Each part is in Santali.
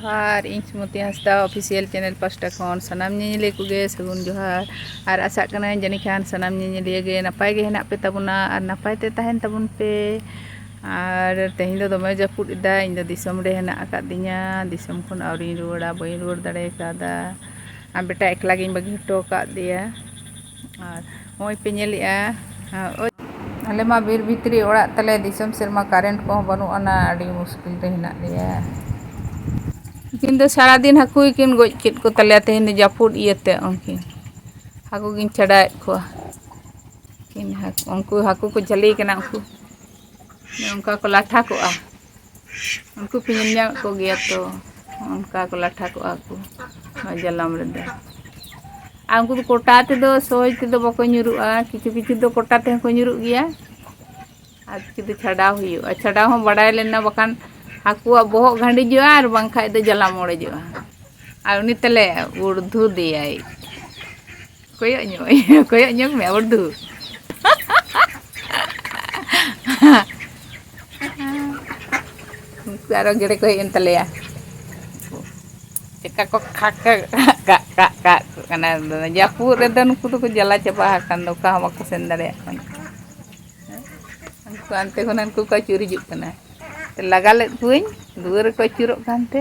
ᱡᱚᱦᱟᱨ ᱤᱧ ᱥᱩᱢᱚᱛᱤ ᱦᱟᱸᱥᱫᱟ ᱚᱯᱷᱤᱥᱤᱭᱟᱞ ᱪᱮᱱᱮᱞ ᱯᱟᱥᱴᱟ ᱠᱷᱚᱱ ᱥᱟᱱᱟᱢ ᱧᱮᱧᱮᱞᱤᱭᱟᱹ ᱠᱚᱜᱮ ᱥᱟᱹᱜᱩᱱ ᱡᱚᱦᱟᱨ ᱟᱨ ᱟᱥᱟᱜ ᱠᱟᱹᱱᱟᱹᱧ ᱡᱟᱹᱱᱤᱡ ᱠᱷᱟᱱ ᱥᱟᱱᱟᱢ ᱧᱮᱧᱮᱞᱤᱭᱟᱹ ᱜᱮ ᱱᱟᱯᱟᱭ ᱜᱮ ᱦᱮᱱᱟᱜ ᱯᱮ ᱛᱟᱵᱚᱱᱟ ᱟᱨ ᱱᱟᱯᱟᱭ ᱛᱮ ᱛᱟᱦᱮᱱ ᱛᱟᱵᱚᱱ ᱯᱮ ᱟᱨ ᱛᱮᱦᱮᱧ ᱫᱚ ᱫᱚᱢᱮ ᱡᱟᱹᱯᱩᱫ ᱮᱫᱟ ᱤᱧ ᱫᱚ ᱫᱤᱥᱚᱢ ᱨᱮ ᱦᱮᱱᱟᱜ ᱟᱠᱟᱫᱤᱧᱟ ᱫᱤᱥᱚᱢ ᱠᱷᱚᱱ ᱟᱹᱣᱨᱤᱧ ᱨᱩᱣᱟᱹᱲᱟ ᱵᱟᱹᱧ ᱨᱩᱣᱟᱹᱲ ᱫᱟᱲᱮ ᱠᱟᱣᱫᱟ ᱟᱨ ᱵᱮᱴᱟ ᱮᱠᱞᱟ ᱜᱤᱧ ᱵᱟᱹᱜᱤ ᱦᱚᱴᱚ ᱟᱠᱟᱫᱮᱭᱟ ᱟᱨ ᱱᱚᱜᱼᱚᱭ ᱯᱮ ᱧᱮᱞᱮᱫᱼᱟ ᱟᱞᱮ ᱢᱟ ᱵᱤᱨ ᱵᱷᱤᱛᱨᱤ ᱚᱲᱟᱜ ᱛᱟᱞᱮ ᱫᱤᱥᱚᱢ ᱥᱮᱫ ᱢᱟ ᱠᱟᱨᱮᱱᱴ ᱠᱚᱦᱚᱸ ᱵᱟᱹᱱᱩᱜ ᱟᱱᱟ ᱟᱹᱰᱤ ᱢᱩᱥᱠᱤᱞ ᱨᱮ ᱦᱮᱱᱟᱜ ᱞᱮᱭᱟ ᱛᱮᱦᱮᱧ ᱫᱚ ᱥᱟᱨᱟ ᱫᱤᱱ ᱦᱟᱹᱠᱩ ᱜᱮᱠᱤᱱ ᱜᱚᱡ ᱠᱮᱫ ᱠᱚ ᱛᱟᱞᱮᱭᱟ ᱛᱮᱦᱮᱧ ᱫᱚ ᱡᱟᱹᱯᱩᱫ ᱤᱭᱟᱹᱛᱮ ᱩᱱᱠᱤᱱ ᱦᱟᱹᱠᱩ ᱜᱤᱧ ᱪᱷᱟᱰᱟᱣᱮᱫ ᱠᱚᱣᱟ ᱩᱱᱠᱩ ᱦᱟᱹᱠᱩ ᱠᱚ ᱡᱷᱟᱹᱞᱤ ᱠᱟᱱᱟ ᱩᱱᱠᱩ ᱚᱱᱠᱟ ᱠᱚ ᱞᱟᱴᱷᱟ ᱠᱚᱜᱼᱟ ᱩᱱᱠᱩ ᱯᱮ ᱧᱮᱞ ᱧᱟᱢᱮᱫ ᱠᱚᱜᱮᱭᱟ ᱛᱚ ᱚᱱᱠᱟ ᱠᱚ ᱞᱟᱴᱷᱟ ᱠᱚᱜᱼᱟ ᱠᱚ ᱱᱚᱣᱟ ᱡᱟᱞᱟᱢ ᱨᱮᱫᱚ ᱟᱨ ᱩᱱᱠᱩ ᱫᱚ ᱠᱚᱴᱟ ᱛᱮᱫᱚ ᱥᱚᱦᱚᱡᱽ ᱛᱮᱫᱚ ᱵᱟᱠᱚ ᱧᱩᱨᱩᱜᱼᱟ ᱠᱤᱪᱷᱩ ᱠᱤᱪᱷᱩ ᱫᱚ ᱠᱚᱴᱟ ᱛᱮᱦᱚᱸ ᱠᱚ ᱧᱩᱨᱩᱜ ᱜᱮᱭᱟ ᱟᱨ ᱠᱤᱪᱷᱩ ᱫᱚ ᱪᱷᱟᱰᱟᱣ ᱦᱩᱭᱩᱜᱼᱟ ᱪᱷᱟᱰᱟᱣ ᱦᱚᱸ ᱵᱟᱰᱟᱭ ᱞᱮᱱᱟ ᱵᱟᱠᱷᱟᱱ ᱦᱟᱹᱠᱩᱣᱟᱜ ᱵᱚᱦᱚᱜ ᱜᱷᱟᱺᱰᱤᱡᱚᱜᱼᱟ ᱟᱨ ᱵᱟᱝᱠᱷᱟᱡ ᱫᱚ ᱡᱟᱞᱟᱢ ᱚᱲᱮᱡᱚᱜᱼᱟ ᱟᱨ ᱩᱱᱤ ᱛᱟᱞᱮ ᱩᱲᱫᱷᱩ ᱫᱮᱭᱟᱭ ᱠᱚᱭᱚᱜ ᱧᱚᱜ ᱠᱚᱭᱚᱜ ᱧᱚᱜ ᱢᱮ ᱵᱟᱹᱨᱫᱷᱩ ᱩᱱᱠᱩ ᱟᱨᱚ ᱜᱮᱰᱮ ᱠᱚ ᱦᱮᱡ ᱮᱱ ᱛᱟᱞᱮᱭᱟ ᱪᱮᱠᱟ ᱠᱚ ᱠᱷᱟᱠ ᱠᱷᱟᱠ ᱠᱟᱜ ᱠᱟᱜ ᱠᱟᱜ ᱠᱟᱱᱟ ᱡᱟᱹᱯᱩᱫ ᱨᱮᱫᱚ ᱱᱩᱠᱩ ᱫᱚᱠᱚ ᱡᱟᱞᱟ ᱪᱟᱵᱟ ᱟᱠᱟᱱ ᱫᱚ ᱚᱠᱟ ᱦᱚᱸ ᱵᱟᱠᱚ ᱥᱮᱱ ᱫᱟᱲᱮᱭᱟᱜ ᱠᱟᱱᱟ ᱩᱱᱠᱩ ᱦᱟᱱᱛᱮ ᱠᱷᱚᱱ ᱦᱟᱱᱠᱩ ᱠᱚ ᱟᱹᱪᱩᱨ ᱦᱤᱡᱩᱜ ᱠᱟᱱᱟ ᱞᱟᱜᱟ ᱞᱮᱫ ᱠᱚᱣᱟᱹᱧ ᱫᱩᱣᱟᱹᱨ ᱨᱮᱠᱚ ᱟᱹᱪᱩᱨᱚᱜ ᱠᱟᱱᱛᱮ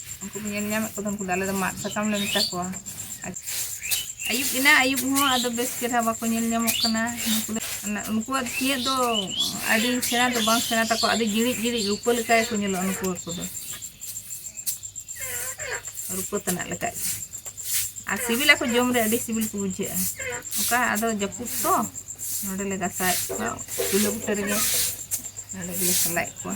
ᱩᱱᱠᱩ ᱵᱚᱱ ᱧᱮᱞ ᱧᱟᱢᱮᱫ ᱠᱚᱫᱚ ᱩᱱᱠᱩ ᱫᱚ ᱟᱞᱮ ᱫᱚ ᱢᱟᱫ ᱥᱟᱠᱟᱢ ᱞᱮ ᱢᱮᱛᱟ ᱠᱚᱣᱟ ᱟᱹᱭᱩᱵ ᱮᱱᱟ ᱟᱹᱭᱩᱵ ᱦᱚᱸ ᱟᱫᱚ ᱵᱮᱥ ᱪᱮᱦᱨᱟ ᱵᱟᱠᱚ ᱧᱮᱞ ᱧᱟᱢᱚᱜ ᱠᱟᱱᱟ ᱩᱱᱠᱩᱣᱟᱜ ᱛᱤᱭᱟᱹᱜ ᱫᱚ ᱟᱹᱰᱤ ᱥᱮᱬᱟ ᱫᱚ ᱵᱟᱝ ᱥᱮᱬᱟ ᱛᱟᱠᱚ ᱟᱹᱰᱤ ᱡᱤᱲᱤᱡ ᱡᱤᱲᱤᱡ ᱨᱩᱯᱟᱹ ᱞᱮᱠᱟ ᱜᱮᱠᱚ ᱧᱮᱞᱚᱜᱼᱟ ᱱᱩᱠᱩ ᱦᱟᱹᱠᱩ ᱫᱚ ᱨᱩᱯᱟᱹ ᱛᱟᱱᱟᱜ ᱞᱮᱠᱟ ᱟᱨ ᱥᱤᱵᱤᱞᱟᱠᱚ ᱡᱚᱢ ᱨᱮ ᱟᱹᱰᱤ ᱥᱤᱵᱤᱞ ᱠᱚ ᱵᱩᱡᱷᱟᱹᱜᱼᱟ ᱚᱱᱠᱟ ᱟᱫᱚ ᱡᱟᱹᱯᱩᱫ ᱛᱚ ᱱᱚᱰᱮᱞᱮ ᱜᱟᱥᱟᱣᱮᱫ ᱠᱚᱣᱟ ᱪᱩᱞᱦᱟᱹ ᱵᱩᱴᱟᱹ ᱨᱮᱜᱮ ᱱᱚᱰᱮ ᱜᱮᱞᱮ ᱥᱟᱞᱟᱭᱮᱫ ᱠᱚᱣᱟ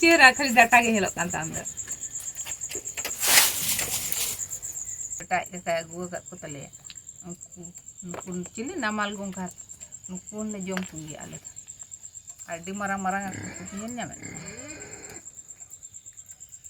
ᱪᱮᱦᱨᱟ ᱠᱷᱟᱹᱞᱤ ᱰᱟᱴᱟ ᱜᱮ ᱧᱮᱞᱚᱜ ᱠᱟᱱ ᱛᱟᱢ ᱫᱚ ᱮᱴᱟᱜ ᱡᱟᱭᱜᱟᱭ ᱟᱹᱜᱩ ᱟᱠᱟᱫ ᱠᱚ ᱛᱟᱞᱮᱭᱟ ᱩᱱᱠᱩ ᱱᱩᱠᱩ ᱪᱤᱞᱤ ᱱᱟᱢᱟᱞ ᱜᱚᱝᱜᱷᱟ ᱱᱩᱠᱩ ᱦᱚᱸᱞᱮ ᱡᱚᱢ ᱠᱚᱜᱮᱭᱟ ᱟᱞᱮ ᱫᱚ ᱟᱹᱰᱤ ᱢᱟᱨᱟᱝ ᱢᱟᱨᱟᱝ ᱟᱠᱚ ᱠᱚ ᱧᱮᱞ ᱧᱟᱢᱮᱫ ᱠᱚᱣᱟ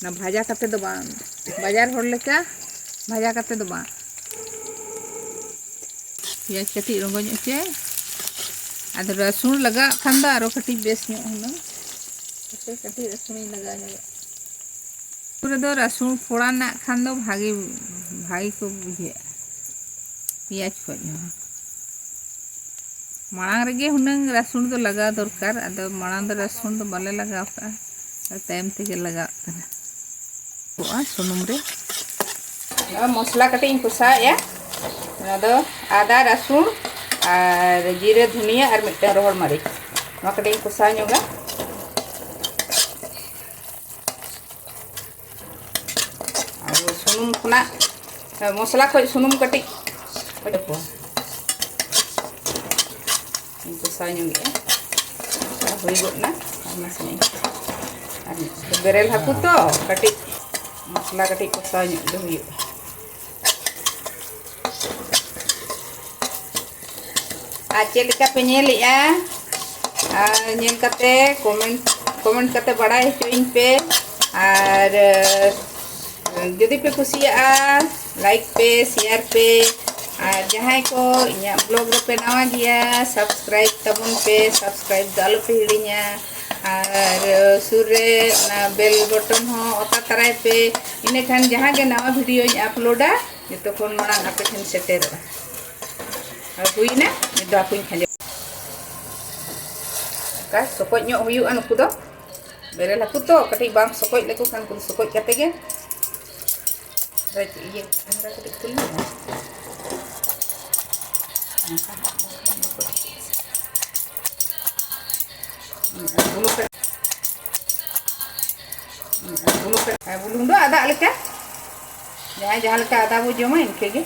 ᱚᱱᱟ ᱵᱷᱟᱡᱟ ᱠᱟᱛᱮ ᱫᱚ ᱵᱟᱝ ᱵᱟᱡᱟᱨ ᱦᱚᱲ ᱞᱮᱠᱟ ᱵᱷᱟᱡᱟ ᱠᱟᱛᱮ ᱫᱚ ᱵᱟᱝ ᱯᱮᱸᱭᱟᱡᱽ ᱠᱟᱹᱴᱤᱡ ᱨᱚᱸᱜᱚ ᱧᱚᱜ ᱦᱚᱪᱚᱭ ᱟᱫᱚ ᱨᱟᱹᱥᱩᱱ ᱞᱟᱜᱟᱜ ᱠᱷᱟᱱ ᱫᱚ ᱟᱨᱚ ᱠᱟᱹᱴᱤᱡ ᱵᱮᱥ ᱧᱚᱜ ᱦᱩᱱᱟᱹᱝ ᱦᱟᱯᱮ ᱠᱟᱹᱴᱤᱡ ᱨᱟᱹᱥᱩᱱᱤᱧ ᱞᱟᱜᱟᱣ ᱧᱚᱜᱚᱜ ᱯᱩᱨᱟᱹ ᱫᱚ ᱨᱟᱹᱥᱩᱱ ᱯᱷᱚᱲᱟᱱᱟᱜ ᱠᱷᱟᱱ ᱫᱚ ᱵᱷᱟᱜᱮ ᱵᱷᱟᱜᱮ ᱠᱚ ᱵᱩᱡᱷᱟᱹᱜᱼᱟ ᱯᱮᱸᱭᱟᱡᱽ ᱠᱷᱚᱡ ᱦᱚᱸ ᱢᱟᱲᱟᱝ ᱨᱮᱜᱮ ᱦᱩᱱᱟᱹᱝ ᱨᱟᱹᱥᱩᱱ ᱫᱚ ᱞᱟᱜᱟᱣ ᱫᱚᱨᱠᱟᱨ ᱟᱫᱚ ᱢᱟᱲᱟᱝ ᱫᱚ ᱨᱟᱹᱥᱩᱱ ᱫᱚ ᱵᱟᱞᱮ ᱞᱟᱜᱟᱣ ᱠᱟᱜᱼᱟ ᱛᱟᱭᱚᱢ ᱛᱮᱜᱮ ᱞᱟᱜᱟᱜ ᱠᱟᱱᱟ ᱠᱚᱜᱼᱟ ᱥᱩᱱᱩᱢ ᱨᱮ ᱢᱚᱥᱞᱟ ᱠᱟᱹᱴᱤᱡ ᱤᱧ ᱠᱚᱥᱟᱣᱮᱫᱼᱟ ᱚᱱᱟ ᱫᱚ ᱟᱫᱟ ᱨᱟᱹᱥᱩᱱ ᱟᱨ ᱡᱤᱨᱟᱹ ᱫᱷᱩᱱᱤᱭᱟᱹ ᱟᱨ ᱢᱤᱫᱴᱟᱝ ᱨᱚᱦᱚᱲ ᱢᱟᱹᱨᱤᱪ ᱱᱚᱣᱟ ᱠᱟᱹᱴᱤᱡ ᱤᱧ ᱠᱚᱥᱟᱣ ᱧᱚᱜᱟ ᱟᱨ ᱥᱩᱱᱩᱢ ᱠᱷᱚᱱᱟᱜ ᱢᱚᱥᱞᱟ ᱠᱷᱚᱡ ᱥᱩᱱᱩᱢ ᱠᱟᱹᱴᱤᱡ ᱠᱟᱹᱴᱤᱡ ᱠᱚ ᱠᱚᱥᱟᱣ ᱧᱚᱜᱮᱜᱼᱟ ᱠᱚᱥᱟᱣ ᱦᱩᱭ ᱜᱚᱫ ᱮᱱᱟ ᱟᱨ ᱱᱟᱥᱮᱱᱟᱜ ᱟᱨ ᱵᱮᱨᱮᱞ ᱦᱟᱹᱠᱩ ᱛᱚ ᱠᱟᱹᱴᱤᱡ ᱢᱚᱥᱞᱟ ᱠᱟᱹᱴᱤᱡ ᱠᱚᱥᱟᱣ ᱧᱚᱜ ᱜᱮ ᱦᱩᱭᱩᱜᱼᱟ ᱟᱨ ᱪᱮᱫ ᱞᱮᱠᱟ ᱯᱮ ᱧᱮᱞᱮᱜᱼᱟ ᱟᱨ ᱧᱮᱞ ᱠᱟᱛᱮ ᱠᱚᱢᱮᱱᱴ ᱠᱚᱢᱮᱱᱴ ᱠᱟᱛᱮ ᱵᱟᱲᱟᱭ ᱦᱚᱪᱚᱭᱤᱧ ᱯᱮ ᱟᱨ ᱡᱩᱫᱤ ᱯᱮ ᱠᱩᱥᱤᱭᱟᱜᱼᱟ ᱞᱟᱭᱤᱠ ᱯᱮ ᱥᱮᱭᱟᱨ ᱯᱮ ᱟᱨ ᱡᱟᱦᱟᱸᱭ ᱠᱚ ᱤᱧᱟᱹᱜ ᱵᱞᱚᱜ ᱨᱮᱯᱮ ᱱᱟᱣᱟ ᱜᱮᱭᱟ ᱥᱟᱵᱥᱠᱨᱟᱭᱤᱵ ᱛᱟᱵᱚᱱ ᱯᱮ ᱥᱟᱵᱥᱠᱨᱟᱭᱤᱵ ᱫᱚ ᱟᱞᱚᱯᱮ ᱦᱤᱲᱤᱧᱟ ᱟᱨ ᱥᱩᱨ ᱨᱮ ᱚᱱᱟ ᱵᱮᱞ ᱵᱚᱴᱚᱱ ᱦᱚᱸ ᱚᱛᱟ ᱛᱟᱨᱟᱭ ᱯᱮ ᱤᱱᱟᱹ ᱠᱷᱟᱱ ᱡᱟᱦᱟᱸ ᱜᱮ ᱱᱟᱣᱟ ᱵᱷᱤᱰᱤᱭᱳᱧ ᱟᱯᱞᱳᱰᱟ ᱡᱚᱛᱚ ᱠᱷᱚᱱ ᱢᱟᱲᱟᱝ ᱟᱯᱮ ᱴᱷᱮᱱ ᱥᱮᱴᱮᱨᱚᱜᱼᱟ ᱟᱨ ᱦᱩᱭᱱᱟ ᱱᱤᱛ ᱫᱚ ᱦᱟᱹᱠᱩᱧ ᱠᱷᱟᱸᱡᱚ ᱚᱱᱠᱟ ᱥᱚᱠᱚᱡ ᱧᱚᱜ ᱦᱩᱭᱩᱜᱼᱟ ᱱᱩᱠᱩ ᱫᱚ ᱵᱮᱨᱮᱞ ᱦᱟᱹᱠᱩ ᱛᱚ ᱠᱟᱹᱴᱤᱡ ᱵᱟᱢ ᱥᱚᱠᱚᱡ ᱞᱮᱠᱚ ᱠᱷᱟᱱ ᱩᱱᱠᱩ ᱫᱚ ᱥᱚᱠᱚᱡ ᱠᱟᱛᱮ ᱜᱮ ᱤᱭᱟᱹ ᱠᱷᱟᱱᱫᱟ ᱠᱟᱹᱴᱤᱡ ᱠᱷᱩᱞ ᱧᱚᱜᱼᱟ ᱵᱩᱞᱩᱝ ᱫᱚ ᱟᱫᱟᱜ ᱞᱮᱠᱟ ᱡᱟᱦᱟᱸᱭ ᱡᱟᱦᱟᱸ ᱞᱮᱠᱟ ᱟᱫᱟ ᱵᱚ ᱡᱚᱢᱟ ᱤᱱᱠᱟᱹ ᱜᱮ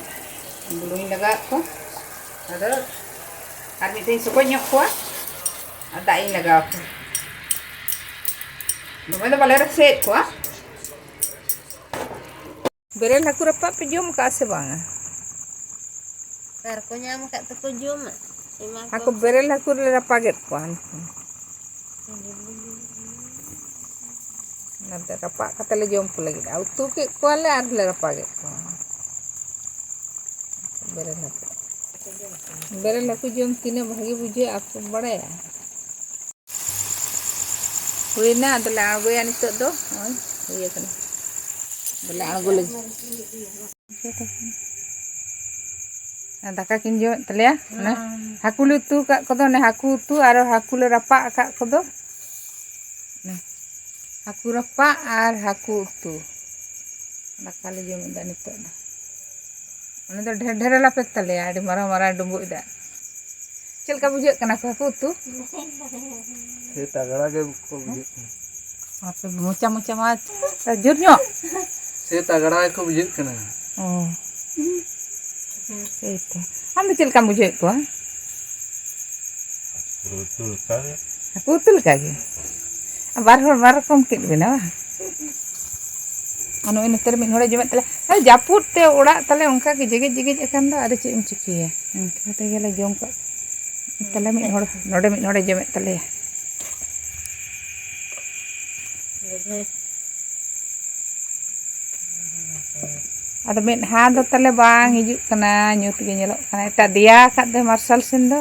ᱵᱩᱞᱩᱝ ᱞᱟᱜᱟᱣᱟᱜ ᱠᱚ ᱟᱫᱚ ᱟᱨ ᱢᱤᱫ ᱫᱷᱟᱣ ᱥᱚᱠᱚᱡ ᱧᱚᱜ ᱠᱚᱣᱟ ᱟᱨ ᱫᱟᱜ ᱤᱧ ᱞᱟᱜᱟᱣ ᱠᱚᱣᱟ ᱫᱚᱢᱮ ᱫᱚ ᱵᱟᱞᱮ ᱨᱟᱥᱮᱭᱮᱫ ᱠᱚᱣᱟ ᱵᱮᱨᱮᱞ ᱦᱟᱹᱠᱩ ᱨᱟᱯᱟᱜ ᱯᱮ ᱡᱚᱢ ᱟᱠᱟᱜᱼᱟ ᱥᱮ ᱵᱟᱝᱟ? ᱚᱠᱟ ᱨᱮᱠᱚ ᱧᱟᱢ ᱟᱠᱟᱫ ᱛᱮᱠᱚ ᱡᱚᱢᱟ᱾ ᱮᱢᱟ ᱟᱠᱚ ᱠᱚᱣᱟᱢ ᱥᱮ ᱵᱮᱨᱮᱞ ᱦᱟᱹᱠᱩ ᱨᱮ ᱨᱟᱯᱟᱜᱮᱫ ᱠᱚᱣᱟ᱾ ᱚᱱᱟᱛᱮ ᱨᱟᱯᱟᱜ ᱠᱟᱛᱮ ᱞᱮ ᱡᱚᱢ ᱠᱚ ᱞᱟᱹᱜᱤᱫ ᱟᱨ ᱩᱛᱩ ᱠᱮᱫ ᱠᱚᱣᱟᱞᱮ ᱟᱨᱞᱮ ᱨᱟᱯᱟᱜᱮᱫ ᱠᱚᱣᱟ᱾ ᱵᱮᱨᱮᱞ ᱦᱟᱹᱠᱩ ᱵᱮᱨᱮᱞ ᱦᱟᱹᱠᱩ ᱡᱚᱢ ᱛᱤᱱᱟᱹᱜ ᱵᱷᱟᱹᱜᱤ ᱵᱩᱡᱷᱟᱹᱜᱼᱟ ᱟᱯᱮ ᱯᱮ ᱵᱟᱲᱟᱭᱟ? ᱦᱩᱭᱱᱟ ᱟᱫᱚᱞᱮ ᱟᱬᱜᱚᱭᱟ ᱱᱤᱛᱚᱜ ᱫᱚ ᱱᱚᱜᱼᱚᱭ ᱦᱩᱭ ᱟᱠᱟᱱᱟ ᱟᱫᱚᱞᱮ ᱟᱬᱜᱚ ᱞᱟᱹᱜᱤᱫ ᱫᱟᱠᱟ ᱠᱤᱱ ᱡᱚᱢᱮᱫ ᱛᱟᱞᱮᱭᱟ ᱚᱱᱮ ᱦᱟᱹᱠᱩ ᱞᱮ ᱩᱛᱩ ᱟᱠᱟᱫ ᱠᱚᱫᱚ ᱚᱱᱮ ᱦᱟᱹᱠᱩ ᱩᱛᱩ ᱟᱨ ᱦᱟᱹᱠᱩ ᱞᱮ ᱨᱟᱯᱟᱜ ᱟᱠᱟᱫ ᱠᱚᱫᱚ ᱦᱟᱹᱠᱩ ᱨᱟᱯᱟᱜ ᱟᱨ ᱦᱟᱹᱠᱩ ᱩᱛᱩ ᱫᱟᱠᱟ ᱞᱮ ᱡᱚᱢᱮᱫᱟ ᱱᱤᱛᱚᱜ ᱫᱚ ᱚᱱᱟ ᱫᱚ ᱰᱷᱮᱨ ᱰᱷᱮᱨ ᱞᱟᱯᱮ ᱛᱟᱞᱮᱭᱟ ᱟᱹᱰᱤ ᱢᱟᱨᱟᱝ ᱢᱟᱨᱟᱝ ᱰᱩᱸᱵᱩᱜ ᱫᱟᱜ ᱪᱮᱫ ᱞᱮᱠᱟ ᱵᱩᱡᱷᱟᱹᱜ ᱠᱟᱱᱟ ᱠᱚ ᱦᱟᱹᱠᱩ ᱩᱛᱩ ᱥᱮ ᱛᱟᱜᱲᱟ ᱜᱮ ᱠᱚ ᱵᱩᱡᱷᱟᱹᱜ ᱠᱟᱱᱟ ᱟᱯᱮ ᱢᱚᱪᱟ ᱢᱚᱪᱟ ᱢᱟ ᱡᱳᱨ ᱧᱚᱜ ᱥᱮ ᱛᱟᱜᱲᱟ ᱜᱮ ᱠᱚ ᱵᱩᱡᱷᱟᱹᱜ ᱠᱟᱱᱟ ᱚ ᱥᱮᱭ ᱛᱚ ᱟᱢ ᱫᱚ ᱪᱮᱫ ᱞᱮᱠᱟᱢ ᱵᱩᱡᱷᱟᱹᱣᱮᱫ ᱠᱚᱣᱟ ᱩᱛᱩ ᱞᱮᱠᱟ ᱜᱮ ᱦᱟᱹᱠᱩ ᱩᱛᱩ ᱞᱮᱠᱟ ᱜᱮ ᱵᱟᱨ ᱦᱚᱲ ᱵᱟᱨ ᱨᱚᱠᱚᱢ ᱠᱮᱫ ᱵᱮᱱᱟ ᱵᱟᱝ ᱟᱨ ᱱᱚᱜᱼᱚᱭ ᱱᱚᱛᱮ ᱨᱮ ᱢᱤᱫ ᱦᱚᱲᱮ ᱡᱚᱢᱮᱫ ᱛᱟᱞᱮ ᱟᱨ ᱡᱟᱹᱯᱩᱫ ᱛᱮ ᱚᱲᱟᱜ ᱛᱟᱞᱮ ᱚᱱᱠᱟ ᱜᱮ ᱡᱮᱜᱮᱡ ᱡᱮᱜᱮᱡ ᱟᱠᱟᱱ ᱫᱚ ᱟᱫᱚ ᱪᱮᱫ ᱮᱢ ᱪᱤᱠᱟᱹᱭᱟ ᱚᱱᱠᱟ ᱠᱟᱛᱮ ᱜᱮᱞᱮ ᱡᱚᱢ ᱠᱟᱜ ᱛᱟᱞᱮ ᱢᱤᱫ ᱦᱚᱲ ᱱᱚᱰᱮ ᱢᱤᱫ ᱦᱚᱲᱮ ᱡᱚᱢᱮᱫ ᱛᱟᱞᱮᱭᱟ ᱟᱫᱚ ᱢᱤᱫ ᱦᱟ ᱫᱚ ᱛᱟᱞᱮ ᱵᱟᱝ ᱦᱤᱡᱩᱜ ᱠᱟᱱᱟ ᱧᱩᱛ ᱜᱮ ᱧᱮᱞᱚᱜ ᱠᱟᱱᱟ ᱮᱴᱟᱜ ᱫᱮᱭᱟ ᱟᱠᱟᱫ ᱫᱚ ᱢᱟᱨᱥᱟᱞ ᱥᱮᱱ ᱫᱚ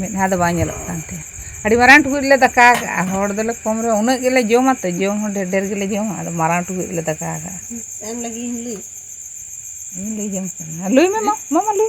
ᱢᱤᱫ ᱫᱷᱟᱣ ᱫᱚ ᱵᱟᱝ ᱧᱮᱞᱚᱜ ᱠᱟᱱ ᱛᱟᱦᱮᱸᱫ ᱟᱹᱰᱤ ᱢᱟᱨᱟᱝ ᱴᱩᱠᱩᱡ ᱨᱮᱞᱮ ᱫᱟᱠᱟ ᱟᱠᱟᱫᱼᱟ ᱦᱚᱲ ᱫᱚᱞᱮ ᱠᱚᱢ ᱨᱮᱦᱚᱸ ᱩᱱᱟᱹᱜ ᱜᱮᱞᱮ ᱡᱚᱢᱟ ᱛᱚ ᱡᱚᱢ ᱦᱚᱸ ᱰᱷᱮᱨ ᱰᱷᱮᱨ ᱜᱮᱞᱮ ᱡᱚᱢᱟ ᱟᱫᱚ ᱢᱟᱨᱟᱝ ᱴᱩᱠᱩᱡ ᱨᱮᱞᱮ ᱫᱟᱠᱟ ᱟᱠᱟᱫᱼᱟ ᱤᱧ ᱞᱟᱹᱭ ᱡᱚᱝ ᱠᱟᱱᱟ ᱞᱟᱹᱭ ᱢᱮ ᱢᱟ ᱢᱟ ᱞᱟᱹᱭ ᱢᱮ